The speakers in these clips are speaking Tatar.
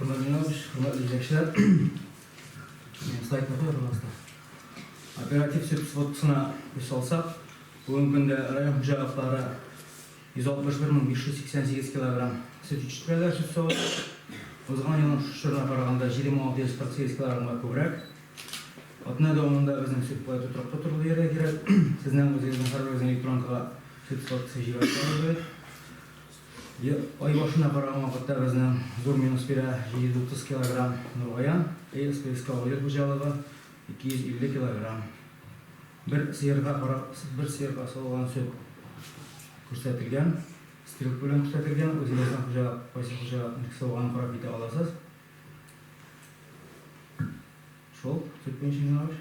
Хөрмәтле Ленардович, хөрмәтле җитәкчеләр! Минем сайтны куй, пожалуйста. Оператив сөт сводкасына күз салсак, бүгенге көндә район хуҗалыклары 161588 килограмм сөт җитештерәләр, сөт савып. Узган елның шушы чорына караганда 20648 килограммга күбрәк. Атна дәвамында безнең сөт куәте торакта торды дияргә кирәк. Сезнең үзегезнең һәрберегезнең электронкага сөт сводкасы җибәреп торабыз бит. Ай башына караган вакытта безнең зур минус бирә, 730 килограмм Нургаян, СПСК авылы хуҗалыгы, 250 килограмм. Бер сыерга карап, бер сыерга салган сөт күрсәтелгән, стрелка белән күрсәтелгән, үзегезнең хуҗа, кайсы хуҗаның савганын карап китә аласыз. Шул, сөт буенча юнәлеш.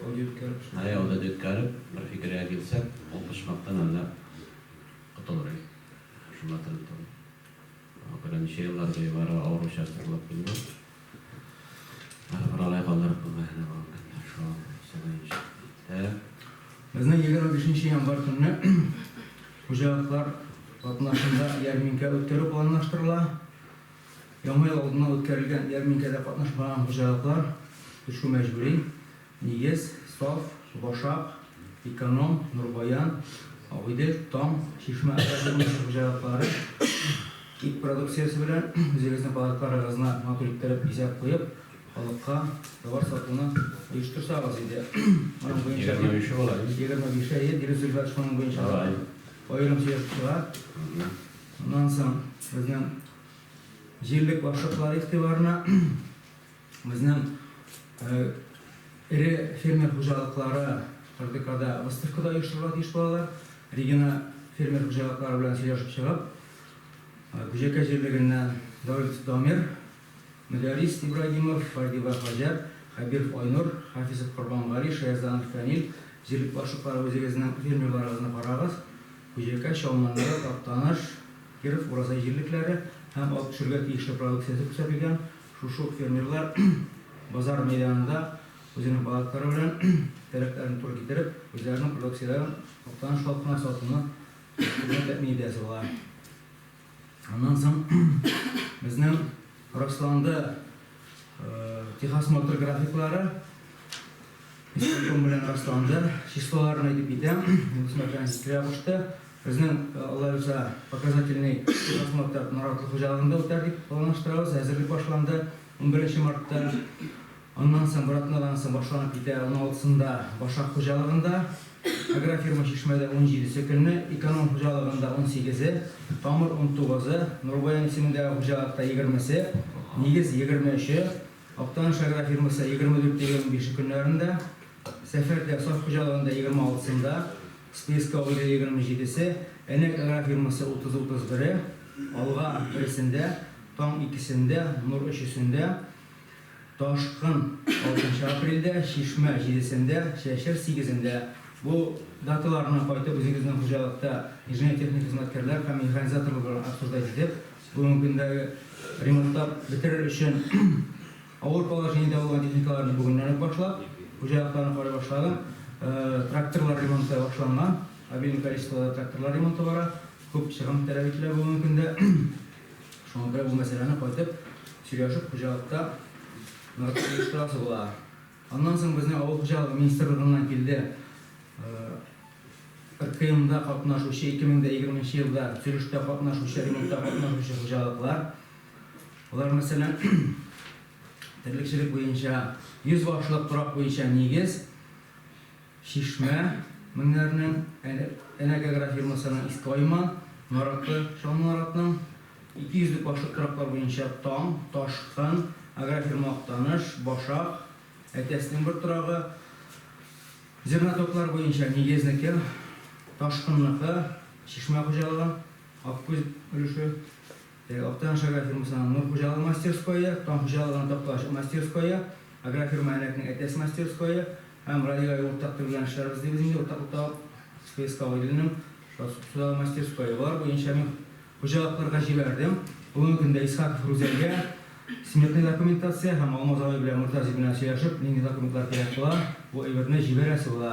Аудиоүткәреп, бер фикергә килсәк, ул почмактан әллә котылыр иде. Шунда терелеп торды. Күрә ничә еллар буе бары авыр участок булып килде. Бары бер алай калдырып куйган әле бу көнне шул сыгыенчы. Тәк. Безнең егерме бишенче январь көнне хуҗалыклар катнашында ярминкә үткәрү планлаштырыла. Яңа ел алдыннан үткәрелгән ярминкәдә катнашмаган хуҗалыклар төшү мәҗбүри, Нигез, Саф, Башак, Эконом, Нурбаян, Агыйдел, Таң, Чишмә агрофирмасы хуҗалыклары ит продукциясе белән үзегезнең палаткаларыгызны матур иттереп бизәп куеп, халыкка товар сатуны оештырсагыз иде. Моның буенча дип. Егерме биш була, әйе. Егерме биш, әйе, Дилүс Рифәтович, моның буенча да аерым сөйләшеп чыга. Шуннан соң безнең җирлек башлыклары игътибарына безнең эре фермер хуҗалыклары РДКда выставка да оештырырга тиеш булалар. Регина фермер хуҗалыклары белән сөйләшеп чыгып, Күҗәкәй җирлегеннән Давлетов Дамир, Мөдәррис Ибрагимов, Фардива Хаҗәт, Хәбиров Айнур, Хафизов Корбангали, Шаязданов Фәнил, җирлек башлыклары үзегезнең фермерларыгызны карагыз, Күҗәкәй, Чалманлы, Актаныш, Киров, Уразай җирлекләре һәм алып төшергә тиешле продукциясе күрсәтелгән, шушы ук фермерлар базар мәйданында үзенең палаткалары белән таләпләрен туры китереп, үзләренең продукцияләрен Актаныш халкына сатуны тәэмин итәсе була. Аннан соң безнең расланды техосмотр графиклары. Исполком белән расланды. Числоларын әйтеп китәм. Госман Францис килә кушты. Безнең Алла юса показательный техосмотр Наратлы хуҗалыгында үтәр дип планлаштырабыз. Әзерлек башланды 11 мартта. Аннан соң братнаган соң башланып китә, уналтысында Башак хуҗалыгында, Агрофирма Чишмәдә унҗиде сөкемле, Эконом хуҗалыгында унсигезе, Тамыр унтугызы, Нурбаян исемендәге хуҗалыкта егермесе, Нигез егерме өче, Актаныш агрофирмасы егерме дүрте егерме бише көннәрендә, Сәфәрдә Саф хуҗалыгында егерме алтысында, Списка Уйда егерме җидесе, Әнәк агрофирмасы утыз утыз бере, Алга бересендә, Таң икесендә, Нур өчесендә, Ташкын, алтынчы апрельдә, Чишмә, җидесендә, Чәчер, сигезендә. Бу даталарны кайтып үзегезнең хуҗалыкта инженер-техник хезмәткәрләр һәм механизаторлар белән обсуждать итеп, бүгенге көндәге ремонтлап бетерер өчен авыр положениедә булган техникаларны бүгеннән үк башлап, хуҗалыкларны карый башладым. Тракторлар ремонты башланган. Обильный количествода тракторлар ремонты бара. Күп чыгым таләп ителә бүгенге көндә. Шуңа күрә бу мәсьәләне кайтып сөйләшеп хуҗалыкта ныгытып оештырасы була. Аннан соң безнең авыл хуҗалыгы министрлыгыннан килде РКМда катнашучы 2020 нче елда төзелештә катнашучы, ремонтта катнашучы хуҗалыклар. Алар мәсәлән терлекчелек буенча 100 башлык торак буенча нигез. Чишмә, Меңнәрнең Энергогра фирмасының Иске Айма нараты, Чаллы наратның ике йөзлек башлык тораклар буенча Таң, Ташкын, Агрофирма Актаныш, Башак, Әтәснең бер торагы, Зернотоклар буенча Нигезнеке, Ташкынныкы, Чишмә хуҗалыгы, Аккүз өлеше, Актаныш агрофирмасының Нур хуҗалыгы мастерское, Таң хуҗалыгының Такталаш мастерское, агрофирма Әнәкнең Әтәс мастерское һәм радиога уртак төрләнгән эшләр без дибез инде уртаклыкта СПСка Гайдуллинның Суда мастерское. Болар буенча мин хуҗалыкларга җибәрдем. Бүгенге көндә Исхаков Рүзәлгә сметный документация һәм Алмаз абый белән Мортазин белән сөйләшеп, нинди документлар кирәк була, бу әйберне җибәрәсе була.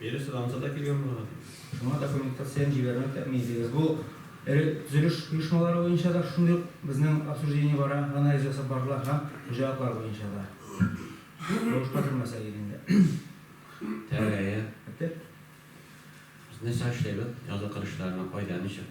Биредә Содамса да килгән булган. Шуңа документлар сәен җибәрмәү тәэмин итегез. Бу эре төзелеш оешмалары буенча да шундый ук безнең обсуждение бара, анализ ясап бардылар һәм хуҗалыклар буенча да. Рәвешкә кермәсәк иде инде. Тәрәгае. Бетте. Без нәрсә эшлибез, язгы кыр эшләренә кайда, ничек?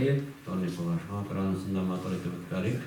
Әйе, таныйсызлар, шуңа күрә анысын да матур итеп үткәрик.